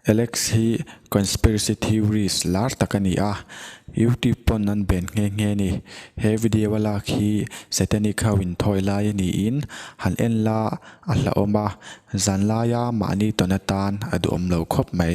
Alex hi conspiracy theories lar tak a ni a, YouTube pawn an ben nghe nghe ni. He video a lak hi satanic ho in thawi lai a niin han en la a hlauhawm a, zanlaia mahni tawn atan a duhawm lo khawp mai.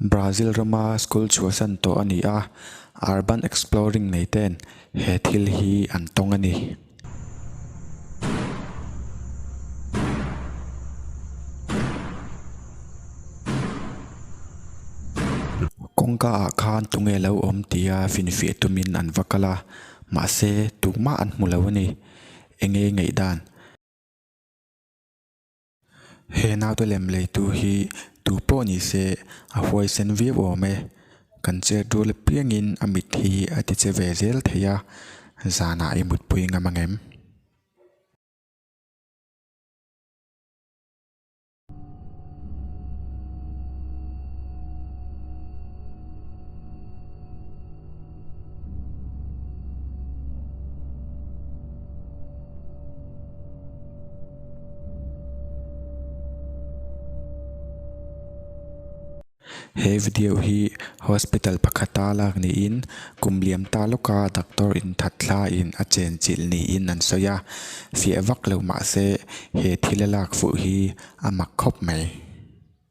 Brazil rama school chhuah san tawh a ni a, urban exploring nei ten he thil hi an tawng a ni. Kawngka ah khan tunge lo awm tia finfiah tumin an va kal a, mahse tumah an hmu lo a ni. Eng nge ngaih dan? He naute lem leitu hi tu pawh ni se a huaisen viau awm e. Kan chetdul apiangin a mit hi a ti che ve zel thei a, zanah i mutpui ngam ang em? He video hi hospital pakhata lak niin kum liam ta lawka doctor in that thla in a chen chilh niin an sawi a, fiah vak lo mahse he thil a lak fuh hi a mak khawp mai.